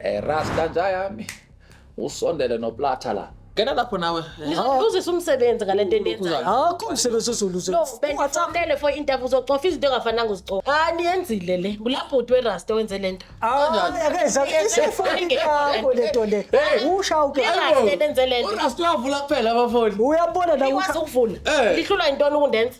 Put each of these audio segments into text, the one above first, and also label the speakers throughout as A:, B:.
A: Eh rasta nja yami. Usondele noplata la. Ngena lapho nawe. Uzisa umsebenzi
B: ngalento endiyenzayo. Akho umsebenzi
C: ozoluza. No, bengifonele
B: for interview uzocofa izinto engafananga uzicofa. Ah niyenzile le. Bulabhuti werasta wenze lento. Kanjani? Akeza
C: isefoni yakho lento le. Usha uke. Werasta benze
B: lento. Urasta uyavula kuphela
A: abafoni. Uyabona la Ikwazi
C: ukuvula. Eh.
B: Lihlulwa yintoni ukundenza?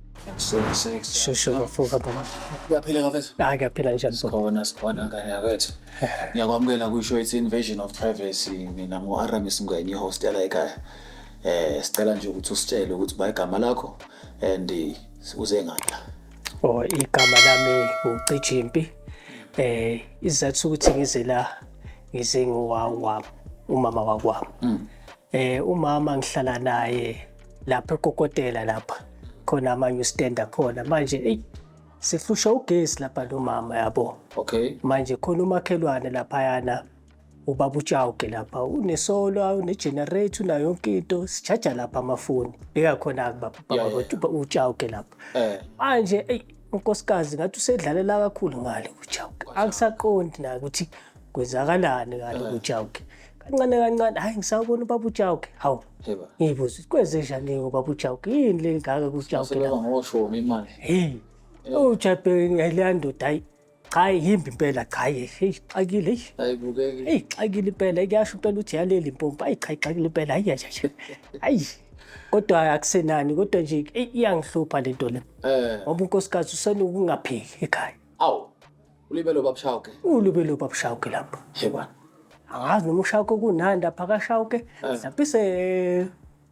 C: Shushu kafuka baba. Uyaphila kafethu?
A: Hayi kuyaphila njani baba?
C: Sikhona sikhona
A: ngane yakwethu. Ngiyakwamukela kusho it's invasion of privacy. Mina ngo-Aramis Ngwenya ihostela ekhaya. Eh sicela nje ukuthi usitshele ukuthi ba igama lakho and eh, uze ngani la. Oh igama
C: lami uCijimpi. Eh izathu ukuthi ngize la ngize ngowawa umama wakwami. Eh umama ngihlala naye lapha ekokotela lapha khona amanye ustand akhona manje eyi sihlushwa ugesi lapha nomama yabo okay manje
A: khona
C: umakhelwane laphayana ubaba utshawuke lapha unesola unegenerator unayo yonke into sijaja lapha amafoni bekakhona-ke baba Yeah, yeah. baba utshawuke lapha eh manje eyi unkosikazi ngathi usedlalela kakhulu ngale kujawuke angisaqondi naye ukuthi kwenzakalani ngale kujawuke kancane kancane hhayi ngisawubona ubaba ujawuke hawu Heba. Ngibuza kwenzenja nje ngoba bujawuke yini le ngaka kuzijawuke Sebeba la. ngoshomi
A: imali. Hey. Ujape
C: ngale ndoda hayi. Cha yimbi impela cha hey xakile hey. Ayibukeki. Hey
A: xakile impela
C: kuyasho impela uthi yaleli impompa ayi cha xakile impela hayi yaja nje. Hayi. Kodwa akusenani kodwa nje ey, iyangihlupha lento le. Eh. Ngoba unkosikazi usenokungaphili ekhaya. Awu.
A: Ulibele ubabshawuke. Ulibele ubabshawuke
C: lapho. Yebona.
A: Angazi noma
C: ushawuke kunandi lapha kashawuke. Eh. Mhlawumbe se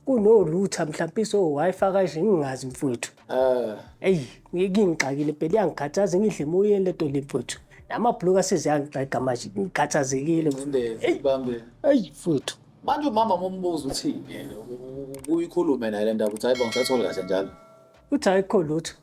C: kunolutha mhlawumbe so-wifi kanje ngingazi mfowethu um eyi ngingixakile phela iyangikhathaza ngidle emoyeni le nto le mfowethu namabhuluka aseziyangixega manje ngikhathazekile
A: eyi mfowethu
C: manje umama
A: mombuza uthini uyikhulume naye le ndaba ukuthi hayi bo ngisathole kahle njalo uthi ayikho
C: lutho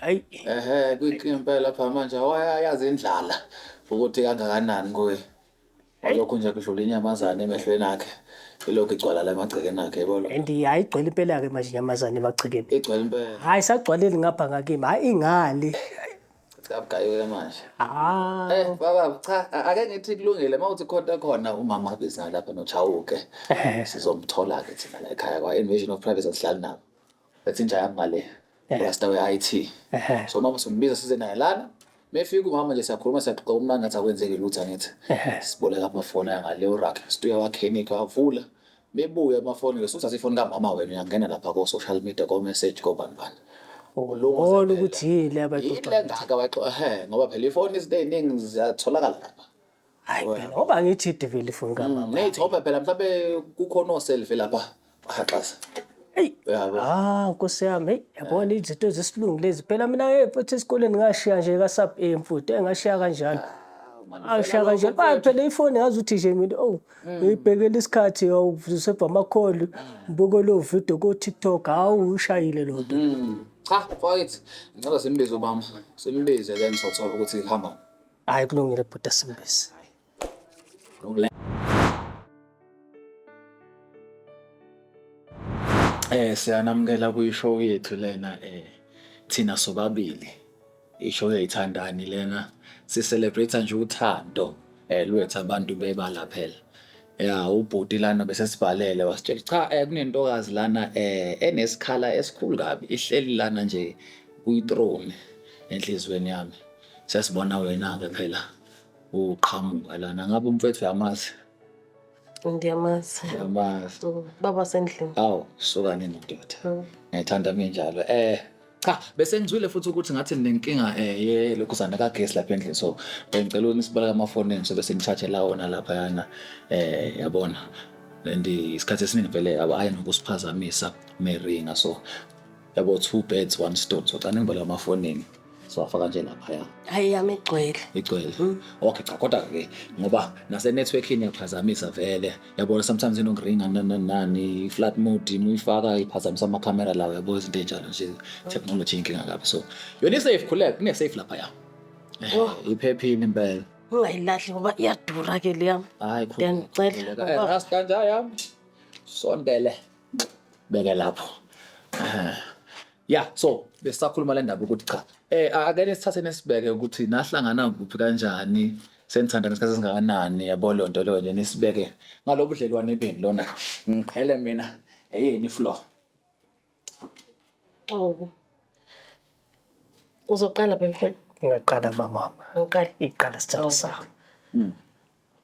A: Hayi. Ehhe kwiqimpela lapha manje wayayazi indlala ukuthi kangakanani kuye. Lokhu nje kudlula inyamazane emehlweni akhe. Ilokhu igcwala la emagcekeni akhe yebo lo. And hayi igcwele impela ke
C: manje inyamazane emagcekeni. Igcwele impela. Hayi
A: sagcwaleli ngapha
C: ngakimi. Hayi ingale. Sikabugayile
A: manje. Ah. Eh baba cha a- ake ngithi kulungile mawuthi khonta khona umama abiza lapha nochawuke. Ehhe. Sizomthola ke thina la ekhaya kwa Invasion of Privacy asihlali nabo. That's inja yami ngale. Eh. Rasta we-IT. Ehhe. So mama sombiza size naye lana. Mefika umama nje siyakhuluma siyaxoxa umnandi ngathi akwenzeki lutho angithi. Ehhe. Siboleka amafoni angale urak. Stuya wakhenika wavula. Bebuya amafoni ke suthatha ifoni kamama wena uyangena lapha ko social media ko message ko bani bani. Ulunga Ubona
C: zempela. ukuthi yini le abayixoxayo. Yini engaka abayixoxa?
A: Ehhe ngoba phela ifoni izinto eziningi ziyatholakala lapha. hayi phela
C: ngoba ngithi idivile ifoni Mm, kamama mate ngoba phela mhlawumbe
A: kukhona oselve lapha baxhaxaza eyi Uyabo. ah
C: nkosi yami eyi yabona izinto zesilungu lezi phela mina eh, futhi esikoleni ngashiya nje kasub a mfuti eh, ngashiya kanjalo ashiya kanjalo bayi phela ifoni ngazi ukuthi nje mina owu ngiyibhekela isikhathi awu useva amakholi ngibuke leyo video ko-tiktok hawu ushayile lo nto Mm. cha mfowethu
A: ngicela simbize ubama simbize then sothola ukuthi ihamba Hayi kulungile
C: bhuti Simbisi.
A: Eh siyanamukela kwishow yethu lena eh thina sobabili. Ishow yayithandani lena si celebrate nje uthando eh lwethu abantu bebala phela. Ya ubhuti lana bese sibhalele wasitshela cha eh kunentokazi lana eh enesikhala esikhulu kabi ihleli lana nje kuyi throne enhlizweni yami. Sesibona wena-ke phela uqhamuka lana. Ngabe umfethu uyamazi?
B: Ngiyamazi. Uyamazi.
A: Mm, Baba sendlini. Awu, suka nini ndoda. Mm. Ngiyithanda
B: minjalo.
A: Eh, cha, bese ngizwile futhi ukuthi ngathi ninenkinga eh ye lokhu sana kagesi lapha endlini. So, bengicela ukuthi sibaleke amafoni enu sobe senichaje la wona lapha yana. Eh, yabona. And isikhathi esiningi vele abayi nokusiphazamisa meringa so yabo two birds one stone so cana imbola amafonini siwafaka nje laphaya hayi yami igcwele
B: igcwele mm. okay cha kodwa
A: ke ngoba nase networking iyaphazamisa vele yabona sometimes ino ring nani nani flat mode muyifaka iphazamisa ama camera lawo yabo izinto enjalo nje technology inkinga kabi so yona safe khuleka kune safe lapha ya eh, oh. iphephile impela ungayilahli ngoba
B: iyadura ke leyam hayi khuleka ngicela
A: eh,
B: rasta nja yam
A: sondele beke lapho Ah, ya so besisakhuluma le ndaba ukuthi cha eh akele sithathe nesibeke ukuthi nahlangana kuphi kanjani senithandana isikhathi esingakanani yabo leyo nto leyo nje nisibeke ngalobu budlelwane benu lona ngiqhele mina eyeni floor Xobo.
B: Uzoqala bemfana. Ngaqala mamama.
C: Uqala. Iqala
B: sithando sakho.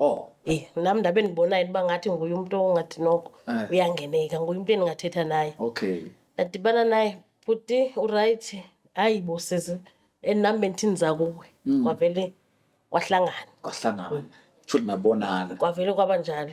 B: Oh. Eh,
A: nam ndabe
B: ndibonayo uba ngathi nguye umntu ongathi noko Eh. uyangeneka,
A: nguye umntu
B: endingathetha naye. Okay. Ndadibana
A: naye,
B: bhuti urayithi? Hayi bo sisi, and nam bendithi ndiza kuwe. Mm. Kwavele kwahlangana, Kwahlangana. Shuthi
A: nabonana. kwavele kwaba njalo.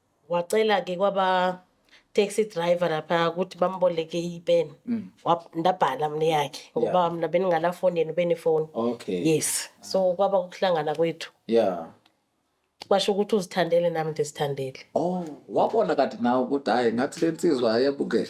B: Wacela-ke kwaba-taxi driver laphaya ukuthi bamboleke ipeni. Mm. Ndabhala mina yakhe ngoba yeah. mina beningala foni yena ubenefoni. Okay. Yes.
A: So kwaba
B: ukuhlangana kwethu. Yeah.
A: Kwasho
B: ukuthi uzithandele nami ndizithandele. Oh, wabona
A: kade nawe ukuthi hayi ngathi lensizwa ayebukele.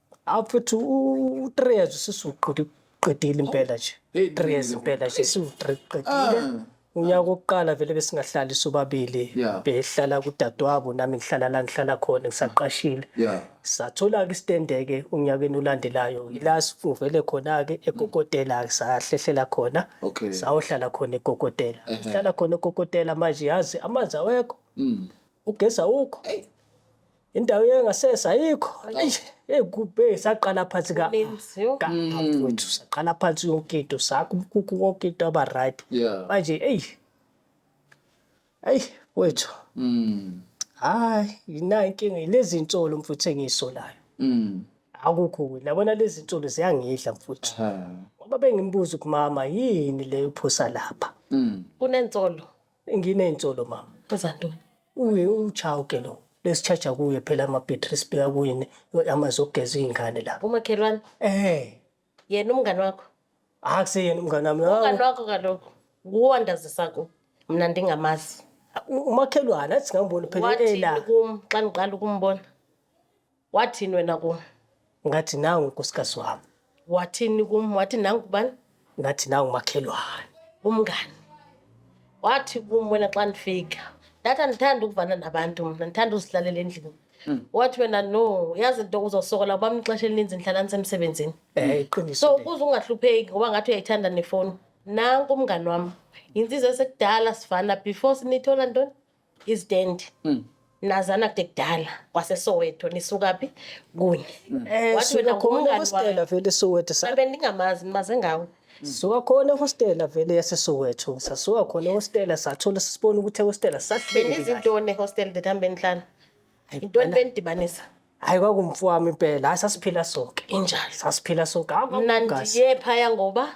A: awu
C: futhi u-three years ususuqedile impela nje Hey, three years qinile. impela nje siwu-three qedile Ah. unyaka wokuqala vele besingahlali sobabili Yeah. behlala
A: kudadewabo
C: nami ngihlala la ngihlala khona ngisaqashile Yeah.
A: sathola-ke
C: isitendeke unyakeni olandelayo yila sivele khona-ke ekokotela-ke sahlehlela khona Okay. Uh-huh. sayohlala
A: khona
C: ekokotela sihlala khona ekokotela manje yazi amanzi awekho Mm. ugesi awukho indawo yangasese ayikho eish hey kubhe saqala phansi ka Kuninzi, yo. ka
B: mfowethu
C: saqala phansi yonke into sakho umkhukhu konke into aba right Yeah. manje eyi eyi wethu Mm. hayi yinayo inkinga lezi nsolo mfuthu engiyisolayo Mm. akukho kuthi nabona lezi nsolo ziyangidla mfuthu Ha. ngoba bengimbuza ukuthi mama yini leyo phosa lapha Mm. Kunensolo.
B: Nginey'nsolo
C: mama. Enza ntoni?
B: Uye
C: uchawuke lo. Lesitshaja kuye phela ama-battery sibheka kuye ne- amanzi okugeza iy'ngane la. Umakhelwane, Eh,
B: yena umngani wakho. akuseyena
C: umngane wami. Umngani wakho kaloku
B: nguwandazisa ku. Mna ndingamazi. U- Umakhelwane
C: athi singamboni phela Wathini ela. kum
B: xa ndiqala ukumbona? Wathini wena kum? Ngathi nangu
C: unkosikazi wami. Wathini kum?
B: Wathi nangu ubani? Ngathi nangu
C: umakhelwane. Umngani.
B: Wathi kum wena xa ndifika. Ndathi andithandi ukuvana nabantu mna, ndithanda uzihlalela endlini. Wathi wena no, yazi into uzosokola uba ixesha elininzi ndihlala ndisemsebenzini. Eh iqiniso. So
C: ukuze ungahlupheki
B: ngoba ngathi uyayithanda nefowuni. Nanku umngani wam. Yintsizwa esekudala sivana before sinithola ntoni? izitendi Mm. nazana kude kudala kwasesoweto nisukaphi kunye Eh, Wathi suka wena
C: khona ngumngani
B: ehostela wami. vele
C: soweto
B: sa- mhlawumbe ndingamazi nimaze ngawe
C: suka khona ehostela vele yasesoweto sasuka khona ehostela sathola sisibona ukuthi ehostela sahleli kahle. benizintoni ehostel
B: the time benihlala yintoni benidibanisa hayi kwakumfu
C: wami impela hayi sasiphila sonke injalo sasiphila
B: sonke Hawu, mna
C: kwakumnandi. ndiye
B: phaya ngoba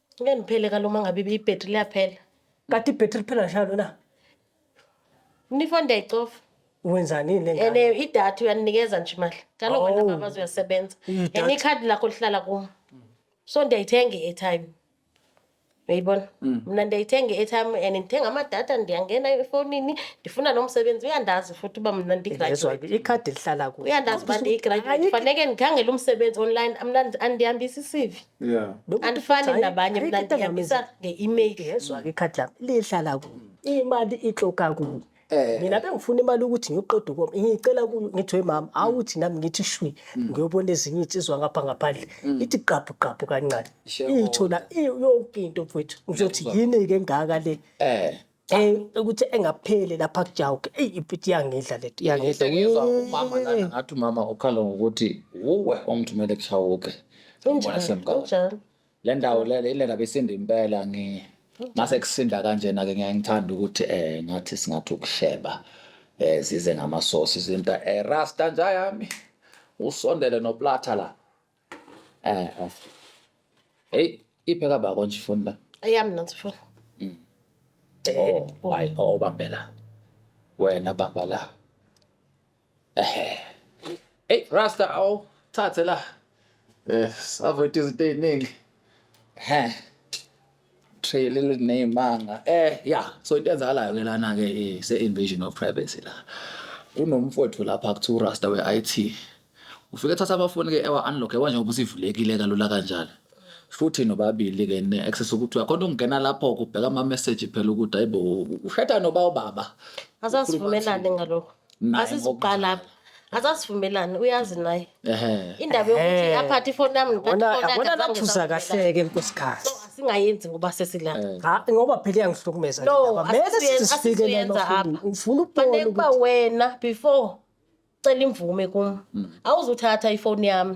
B: Ngeke ngiphele kalo uma ngabe ibhetri liyaphela. Kade ibhetri
C: liphela njalo na?
B: Mina ifoni ndiyayicofa Wenzani yini le
C: and ngane? eh, idatha uyaninikeza
B: nje imali njalo Oh. wena babazi uyasebenza Idatha. and ikhadi lakho lihlala kum so ndiyayithenga i-airtime uyayibona mna ndiyayithenga i-airtime and ndithenga amadata ndiyangena efowunini ndifuna lo msebenzi uyandazi futhi uba mna Ngezwa ndigraduate ke, ikhadi lihlala kuwe.
C: uyandazi uba ndiyigraduate
B: faneke ndikhangele umsebenzi online mna andihambisi isivi yeah
A: andifani nabanye
B: mna ndihambisa nge-email yezwa ke ikhadi lami
C: lihlala kuyo imali ixoka kuyo Eh. mina bengifuna imali ukuthi ngiyoqeda ukomi ngiyicela kuyo ngithi we mama awuthi nami ngithi shwi Mm. ngiyobona ezinye iy'nsizwa ngapha ngaphandle ithi qabhu qabhu kancane Shareholder. iyithola iyo- yonke into mfowethu ngizothi yini-ke engaka le Eh. Eh, ukuthi engapheli lapha kujawuke eyi ipiti yangidla leti yangidla Ngizwa umama
A: lana ngathi umama ukhala ngokuthi wuwe omthumele kushawuke Ngibona semgawini.
B: kunjalo le ndawo
A: le le ndaba isinda impela ngi mase kusinda kanjena ke ngiyaye ngithanda ukuthi eh ngathi singathi ukusheba eh zize ngamasosi izinta eh rasta nja yami usondele noplatha la Eh, eh. Hey, iphe ka bako nje ifoni la. Eyami nansi phone.
B: Oh,
A: hayi oh bambe la. Wena bamba la. Eh. Hey, Rasta awu thathe la. Eh, savote izinto eziningi. Heh. trail elineymanga eh yeah so into enzakalayo ke lana ke eh, se invasion of privacy la kunomfowethu lapha kuthiwa urasta we-IT ufike thatha amafoni ke ewa unlock ewa njengoba usivulekile kalula kanjalo futhi nobabili ke ne access ukuthi uyakhona ukungena lapho kubheka ama message phela ukuthi hayibo ushada noba ubaba asasivumelane
B: ngalokho naye asizuqala apha asasivumelani uyazi naye Ehhe. indaba yokuthi Ehhe. aphathe ifoni yami ngiphathe Yabona- ifoni yakhe, yabona zange nathusa
C: ngisavumela. kahleke nkosikazi So, asingayenzi ngoba
B: sesilapha Eh. Ha, ngoba phela iyangihlukumeza
C: No, lendaba. Mele asisiyen-
B: sisifike lena
C: asisiyenza ufuna- apha. ufuna ukubona fanele ukuba ukuthi- wena
B: before cela imvume kum awuzuthatha ifoni yami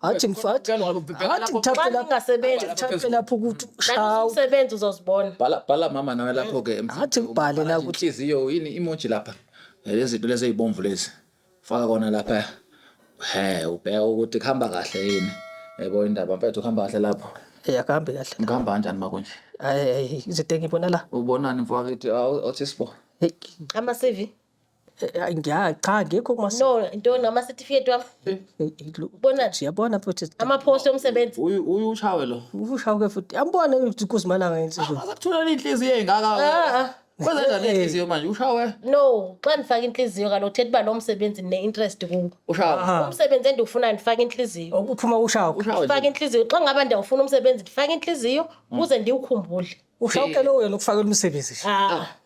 C: athi ngifathi athi ngithathe lapho ngasebenza ngithathe lapho ukuthi ushawu umsebenzi
B: uzozibona bhala bhala mama nawe
A: lapho ke athi ngibhale la ukuthi
C: inhliziyo yini emoji
A: lapha lezi zinto lezi ezibomvu lezi faka kona lapha he ubheka ukuthi kuhamba kahle yini yebo indaba mfethu kuhamba kahle lapho eh akahambi kahle
C: ngihamba kanjani makunje
A: hayi izinto
C: engibona la ubonani mfowethu
A: athi sibo ama CV
B: Eh, ngiya
C: cha ngikho kuma no ntoni amasetifiketi
B: wami ubona nje yabona futhi
C: amaphosi omsebenzi
B: uyu uyu ushawe lo
A: ushawuke futhi yambona
C: ukuthi kuzimalanga insizwa akuthola inhliziyo engaka
A: ah, ah. kwenza njani eh. inhliziyo manje ushawe no xa ndifaka
B: inhliziyo kalo uthetha uba lo msebenzi ne interest kuwo ushawe ah. umsebenzi
A: endiwufuna
B: ndifaka inhliziyo ukuphuma ushawe
C: ndifaka inhliziyo xa
B: ngaba ndiyawufuna umsebenzi ndifaka inhliziyo mm. ukuze ndiwukhumbule ushawuke lowo yena
C: ukufakela umsebenzi nje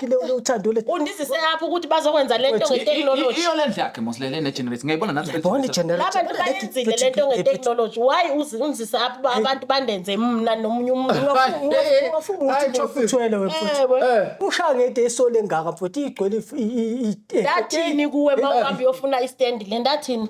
C: kile ule uthando le Undizise apho ukuthi
B: bazokwenza le nto nge-technology. iyo le ndlu yakhe mosilele
A: negeneration ngiyayibona nathi yayibona igenerator Abantu
C: bayenzile le
B: nto nge-technology. Why uzi- undizise apho uba abantu bandenze mna nomunye umuntu? ungafuma ukuthi
C: Hayi, Joseph. uthwele Ewe. wemfuthi ushaya ngede esole engaka mfuthi igcwele if- i- i- i- eh, Ndathini
B: kuwe uma uhambe uyofuna istendi le ndathini?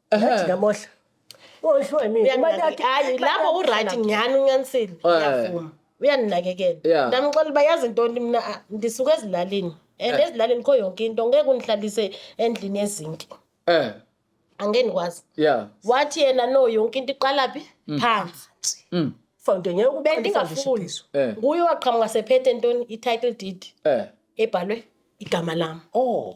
B: Ngathi ngamosha.
C: Ngoshwe mina. Uyanginake- Umataki. hayi lapho uright
B: ngiyani unyanisile Eh. ngiyavuma uyaninakekela Yeah. ndamxela uba yazi ntoni mina ah, ndisuke ezilalini and Eh. ezilalini kho yonke into ngeke undihlalise endlini yezinki Eh. angeke ndikwazi Yeah. wathi yena no yonke into iqalaphi phansi Mm. Foundation ngeke
C: uqale i-foundation bendingafuni phezulu.
B: Eh. nguye waqhamuka sephethe ntoni i-title deed Eh. ebhalwe igama lam Oh.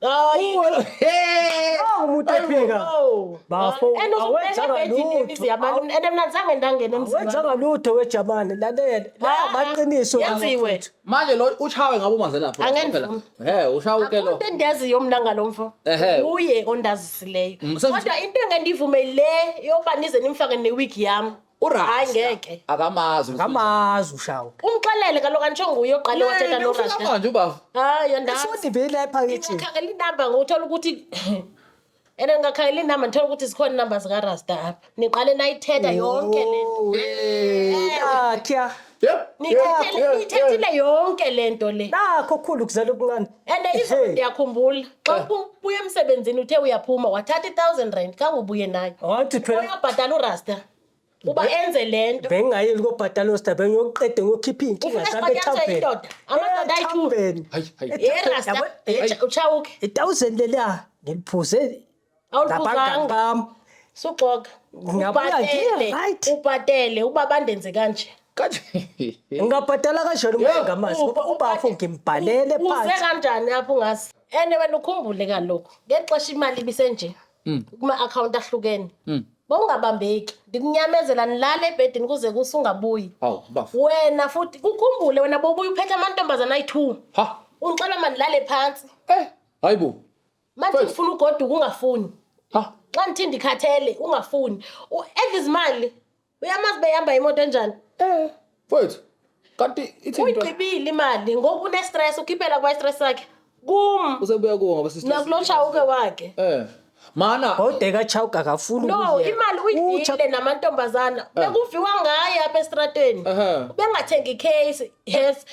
C: Hayi. Uwona- Hey! Awu, umuntu Ayibo, ephika. awu. Bafo, And uzobheka awenzanga ebhedini lutho. imizi yabantu. Awu. And mina zange ndangena emzini wabantu. Wenzanga lutho wejamane lalela. La Ah, ah. maqiniso. Yenziwe.
B: manje lo ushawe
A: ngabo manze lapho Angenzumi. he ushawe ke lo Umuntu endiyaziyo mna ngalo mfo
B: Ehhe. uye ondazisileyo Mm, sengithi- kodwa into engendivume le yoba nize nimfake newig yami Hayi ngeke. akamazi Ngamazi
A: ushawu.
C: Umxelele kaloku angisho
B: nguye oqale wathetha no Rasta. manje ubaba Hayi
A: andazi. Futhi
B: vele ephakethini.
C: Ngingakhangela inamba ngothola
B: ukuthi and ngingakhangela inamba ngithola ukuthi zikhona inamba zikaRasta apha. Niqale nayithetha yonke le nto. Nakya.
C: Yep, yep, Niyithethele- yep,
B: yep. Niyithethile yonke le nto le. Nakho kukhulu kuzela
C: okuncane. and izolo Hey.
B: ndiyakhumbula xa Eh. uphu- ubuya emsebenzini uthe uyaphuma wathatha i-thousand rand kangubuye nayo wathi phela uyabhatala
C: urasta
B: uba enze le nto bengingayeli kobhatala
C: osita bengiyoqede ngiyokhipha iy'nkinga Ufuna zami siphathwa ethaveni indoda? Amadoda ayi-two.
B: Ethaveni. Hayi, hayi. Ethaveni, Irasta yabo- eh, utshawuke itawuzeni leliya
C: ngiliphuze Awulibuzanga.
B: Ngam. Suxoka. Ngiyabona Ubhatele. nje, right. Ubhatele uba bandenze kanje. Kanje.
C: Ngingabhadala kanjani umuntu ngamazi ngoba ubafo ngimbhalele Uze phansi. kanjani
B: apho ungazi? And wena ukhumbule kalokhu. Ngexesha imali ibisenje. Mm. Kuma account ahlukene. Bongabambeki. Ndikunyamezela nilale ebhedini kuze kusungabuyi. Awu bafo. Wena futhi ukhumbule wena bobuya uphethe amantombazana ayi-2. Ha. Ungixola mandilale phansi. Eh. Hayibo.
A: manje First.
B: ufuna ugoduka ungafuni Ah, xa nithi ndikhathele ungafuni U- edla izimali uyamazi behamba imoto enjani eh, mfowethu.
A: Kanti ithi into uyigqibile
B: imali ngoku unestress ukhiphela kwastress sakhe kum usebuya kuwo ngoba sister.
A: nakulo shawuke wakhe
B: Eh. Mana
A: Bhode kaChauke
C: akafuni no ukuya. imali Ucha-
B: uyidlile namantombazana bekuviwa ngaye apha estrateni Ehhe. ubengathengi case yes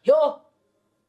B: yo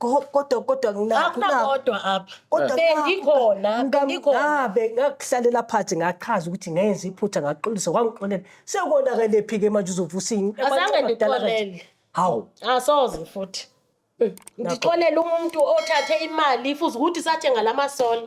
B: Go- kodwa kodwa ngina-
C: akunakodwa
B: apha kodwa bengikhona ngina- bengikhona ngabe
C: ngakuhlalela phansi ngachaza ukuthi ngenza iphutha ngaxolisa kwangixolela sekonakelephi-ke manje uzovusa ini azange ndixolele
B: hawu
C: asoze futhi
B: ndixolele umuntu othathe imali futhi ukuthi sathenga la masola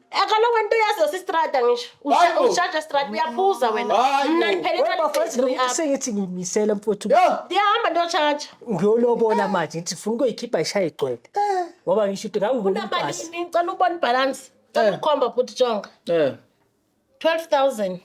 B: Akalo wento yazi osistrada ngisho. Hayi bo. Ushaja strada uyaphuza wena. Hayi bo. Mna ngiphele Wena bafethu imali lokuthi sengithi ngimisele
C: mfowethu Yo. Ndiyahamba ndiyoshaja.
B: ngiyolobola
C: manje ngithi funa ukuyikhipha ishaye igcwele ngoba ngisho ukuthi ngangibona ibhasi Unamalini ngicela ubona ibhalansi.
B: Cela Eh. ukhomba bhuti jonga. Eh. 12000.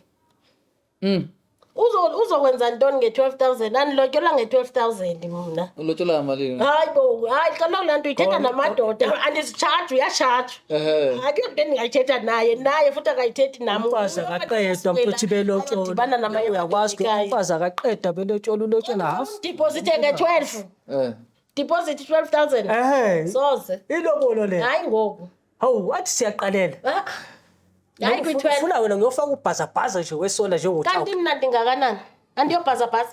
B: Mm. Uzo- uzokwenza ntoni nge-12000 andilotyolwa nge-12000 mna ulotshola malini hayi
A: bo hayi kaloku
B: laa nto uyithetha Khona- namadoda andizitshaji uyashaja Ehhe. akekho mntu endingayithetha naye naye futhi akayithethi nam umfazi akaqedwa
C: mfethu belotshola Ayadibana namanye uyakwazi
B: ukuthi amadoda umfazi
C: akaqedwa belotshola ulotshola half Deposit nge-12. Eh.
B: Deposit 12000. ehe Soze. ilobolo le Hayi
C: ngoku.
B: Hawu wathi
C: siyaqalela.
B: Ah, Hayi Noma kwi-12. Ufuna wena ngiyofaka
C: ubhazabhaza nje wesola njengothawula. Kanti mina ndingakanani?
B: Andiyobhazabhaza.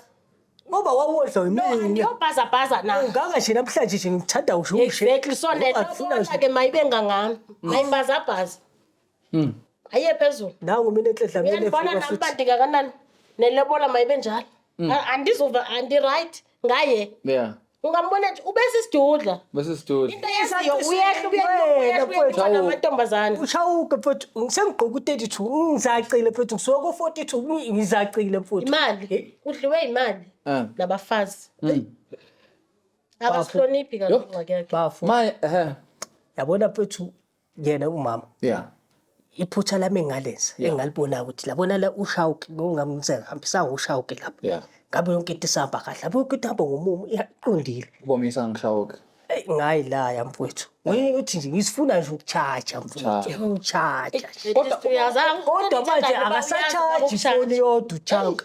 B: Ngoba
C: wawodla No, yimina. andiyobhazabhaza na.
B: Ungaka nje namhlanje nje
C: ngikuthanda usho ushe. Exactly. So Ngoba ngifuna
B: netokola nje. ke mayibe ngangami. Mayibhazabhaza. Mm. Ayiye phezulu. Nangu mina enhle dlamini
C: Uyandibona efika nami uba futhi. ndingakanani?
B: Nelobola mayibe njalo. Mm. A- Andizuva andiright. ngaye yeah ungambona
A: nje ubese
B: isidudla bese isidudla into
A: yaziyo
B: uyehla uyehla uyehla namantombazane ushawuke mfowethu
C: sengigqoka u-32 ngizacile mfowethu ngisuka ko-42 ngizacile mfowethu imali udliwe
B: imali ah. nabafazi hmm. abasihloniphi kaloku ngakekhe bafo manje ehe
C: yabona mfowethu yena umama yeah
A: iphutha
C: lami engalenza yeah. engalibona ukuthi labona la ushawuke ngokungamnise ngihambisa ushawuke lapha yeah. ngabe yonke into
A: isahamba
C: kahle lapho yonke into ihamba ngomumo iqondile ubomisa ngishawuke
A: eyi ngayilaya
C: mfowethu uthi nje ngisifuna nje ukutshaja mfowethu utshaja kodwa manje akasatshaji ifoni yodwa uchawuke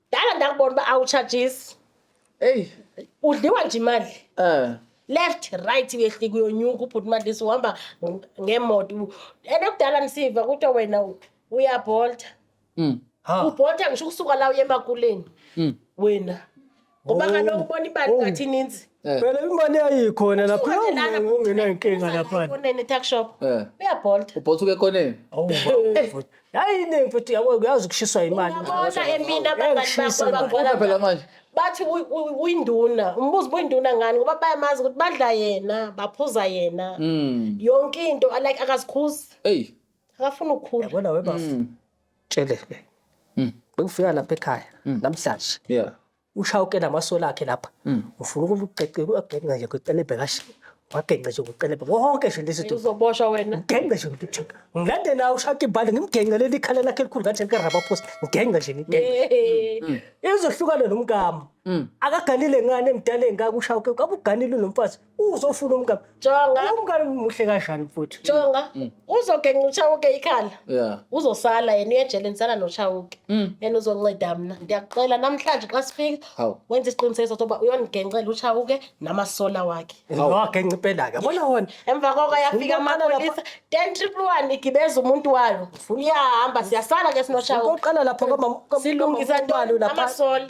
B: Dala ndakubona uba awutshajisi. Eyi.
A: Udliwa nje
B: imali. Eh. left right uyehlika uyonyuka ubhuti madlisi uhamba ngemoto and okudala nisiva kuthiwa wena uyabholta mm. ubholta ngisho ukusuka la uye emakuleni mm. wena ngoba kaloku ubona imali ngathi ininzi Eh. Phela imali
C: yayikhona lapha ungena inkinga lapha. Kunene tuck shop. Eh.
B: Uyabolt. Ubolt uke koneni.
A: Oh.
C: Hayi ne mfethu yabo uyazi kushiswa imali. Uyabona empini
B: abangani bakho bakho. Phela manje.
A: Bathi
B: uyinduna. Umbuzo uyinduna ngani ngoba bayamazi ukuthi badla yena, baphuza yena. Hmm. Yonke into like akazikhuzi. Hey.
A: Akafuna ukukhula.
B: Yabona webafu.
C: Hmm. Tshele. Hmm. Bekufika lapha ekhaya namhlanje. Yeah.
A: Ushawuke namasola
C: akhe lapha. Mm. Ufuna ukugcece ukugcengca nje kwecelebhe kahle. Wagengca nje kwecelebhe. Konke nje lezi zinto. Uzoboshwa wena. Ngigengce
B: nje ukuthi check.
C: Ngilande nawe ushaki ibhande ngimgengce leli khala lakhe elikhulu ngathi lika rubber post. Ngigengce nje ngigengce. Izohlukana nomkami. Akaganile ngane emdala engaka ushawuke. Kabuganile nomfazi. uzofuna umngane jonga umngane
B: muhle kanjani
C: mfuthu jonga mm.
B: uzogenca uchawuke ikhala yeah uzosala
A: yena uyejele
B: nisala nochawuke mm. yena uzonceda mina ndiyakucela namhlanje xa sifika wenza isiqinisekiso sokuba uyonigencela uchawuke namasola wakhe wagenca impela
C: ke bona wona emva koko yafika
B: amapolisa ten triple one igibeza umuntu wayo iyahamba siyasala ke sinochawuke uqala lapho komama
C: silungisa ntwalo
B: lapha amasola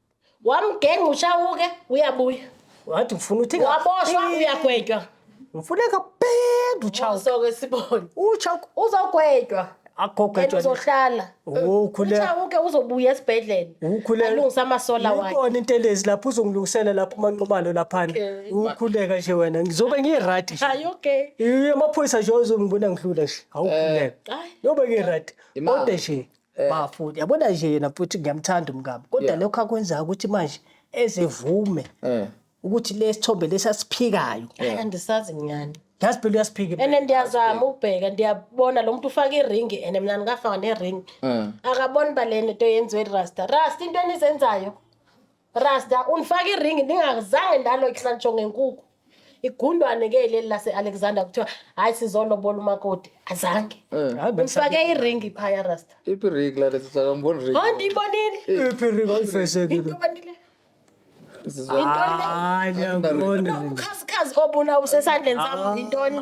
B: wamgenga ushawuke uyabuya wathi ngifuna
C: uthi waboshwa uyagwetywa
B: ngifuna
C: kabhenda uchawu soke sibone
B: uchawu
C: uzogwetywa
B: agogejwa
C: uzohlala
B: ukhule
C: uchawu-ke uzobuya
B: esibhedlela ukhule alungisa
C: amasola
B: wakhe ikona into elezi lapho
C: uzongilungisela lapho umanqumalo laphana ukhuleka nje wena ngizobe ngirati hayi
B: okay amaphoyisa nje
C: uzongibona ngidlula nje awukhuleka eh, yobe ngirati kodwa nje Eh. bafuni yabona nje yena futhi ngiyamthanda umkami kodwa Yeah. lokho akwenzayo ukuthi manje ezevume Eh. ukuthi lesithombe lesi asiphikayo Hayi, andisazi
B: nyani yazi phela uyasiphika
C: ene ndiyazama
B: ukubheka ndiyabona lo muntu ufake iringi ene mna ndingafaka neringi Eh. akaboni uba le nto yenziwe rasta rasta into enizenzayo Rasta unifaka iringi ndingazange ndalo ihlantsho ngenkuku. Igundwane ke leli lase Alexander kuthiwa hayi sizolobola umakoti. Azange. Eh. Hayi bengisa- Unifake iringi phaya Rasta. Iphi rig la lesi
A: saka ngibona rig. Hayi ndiyibonile. Iphi
B: ring oyifeshekile?
C: Ngiyibonile.
B: Sizwa.
C: Hayi ngiyakubona. Ukhasikazi obuna
B: usesandleni sami yintoni?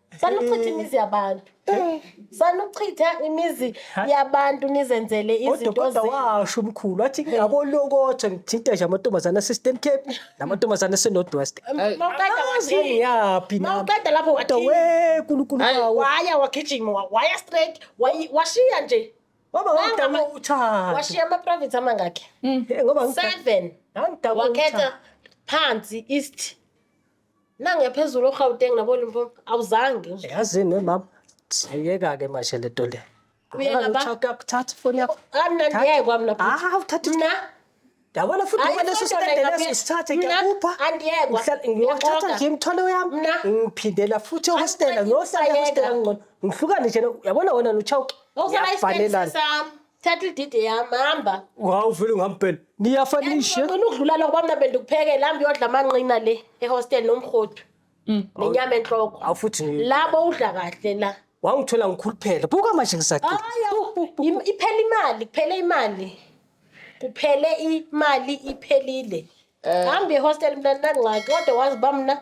A: sanuchitha
B: imizi yabantu sanuchitha imizi yabantu nizenzele Kodwa izinto kodwa zi- washo
C: umkhulu wathi abolokotha ngithinta nje amantombazane ase-Eastern Cape namantombazane ase-North West. Mawuqeda Angazi wathini?
B: ngiyaphi nami. Mawuqeda
C: lapho Kodwa wathini? we
B: nkulunkulu Hayi,
C: bawo. waya wagijima wa-
B: waya straight wayi- washiya nje Baba Wangama- ngangidakwa
C: uthando. washiya ama-province
B: amangakhi Eh, Ngoba ngangidakwa-
C: seven
B: ngangidakwa wakhetha
C: uthando.
B: phansi east Nangiya phezulu oGauteng naboLimpopo awuzange nje. Yazini we baba.
C: Sayeka ke manje le nto le. Uya ngaba?
B: Kuthatha ifoni yakho.
C: Andiyekwa mna
B: bhuti. Ah, uthatha Mna Yabona futhi
C: Hayi, ngoba leso kodwa sitende ngingabe- leso sithathe
B: Mna,
C: ngiyakupha. andiyekwa.
B: Ngihlala-
C: Ngiyothatha
B: Ngiyaqoqa. nje
C: imithwalo yami. Mna. Ngiphindela
B: futhi
C: ehostela. Angiqedi Ngiyohlala isayeka. ehostela ngcono.
B: Ngihlukane
C: nje. no- Yabona wena noChauke. Awusalayisitendise Yafanelana.
B: sami. thatha ididi yami hamba Wow, uvele ungampela.
C: Niyafanisha. ngicina ukudlula lokho bamna
B: bendikuphekela hambe uyodla amanqina le ehostel nomrhodu nenyama enhloko Awu futhi ngi- labo
C: udla
B: kahle la wangithola ngikhuluphele.
C: Buka manje ngisaqi. Hhayi, im- iphele
B: imali kuphele imali kuphele imali iphelile hambe ehostel mntanangxaki kodwa wazi bamna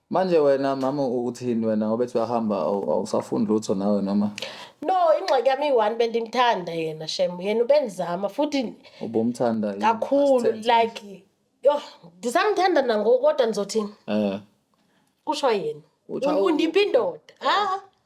B: Manje wena
A: mama uthini wena ngoba ethi uyahamba awu- awusafundi lutho nawe noma no ingxaki
B: yami iyi-one bendimthanda yena shem yena ubendizama futhi ubumthanda yini?
A: kakhulu
B: Asithembe. like yho ndisamthanda nangoku kodwa ndizothini Eh. kusho yena Utsha- U- undipha indoda ha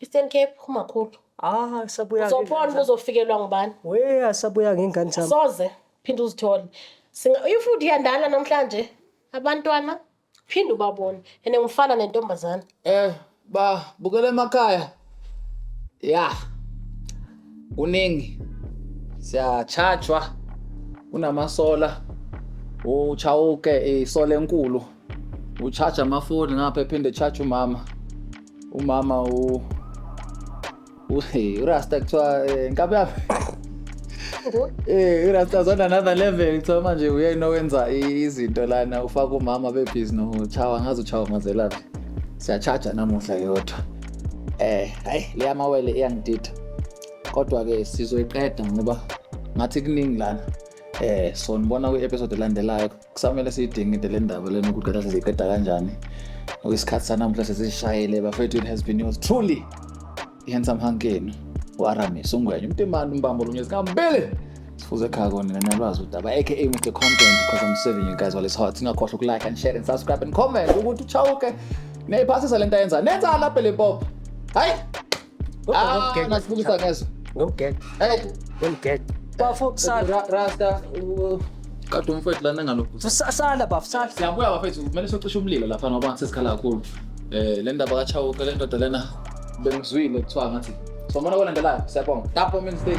B: Eastern Cape umakhulu. Ah, sabuya.
C: Uzobona ukuthi uzofikelwa
B: ngubani. We asabuya
C: ngengane zami. Soze phinde
B: uzithole. Singa if uyandala namhlanje abantwana phinde ubabone. Ene
A: ngifana
B: nentombazana.
A: Eh,
B: ba bukela
A: emakhaya. Ya. Kuningi. Siyachajwa kunamasola. Uchawuke isole enkulu. uchaja amafoni ngapha ephinde echaja umama umama u urasta kuthiwa eh, nkabi yami Eh, urasta zona another level kuthiwa manje uyena owenza i- izinto lana ufaka umama bebhizi nochawa ngazi uchawa mazelaphi siyachaja namuhla yodwa eh hayi leya mawele iyangidida kodwa-ke sizoyiqeda ngoba ngathi kuningi lana eh so nibona kwi-episode elandelayo kusamele siyidingide le ndaba lena ukuthi kade siziqeda kanjani okwesikhathi sanamuhla sesishayele bafethu it has been yours truly i-handsome hunk yenu u-aramis ungwenye umtimani umbambo lunye zikambili sifuze ekhaya kona nina nalwazi udaba aka mr content because i'm serving you guys while it's hot singakhohlwa ukulike and share and subscribe and comment ukuthi uchawuke neyiphasisa le nto ayenza nenzani lapha le pop hayi Ah, nasibukusa ngezwa. Ngomgede. Hey, ngomgede.
C: Bafo sala. Rasta.
A: Kade umfowethu lana ngalokhu. Sala bafo sala.
C: Siyabuya bafethu, kumele
A: socishe umlilo lapha ngoba sesikhala kakhulu. Eh, le ndaba kaChauke le ndoda lena bengizwile kuthiwa ngathi. Somona kolandelayo, siyabonga. Tapo Men's Day.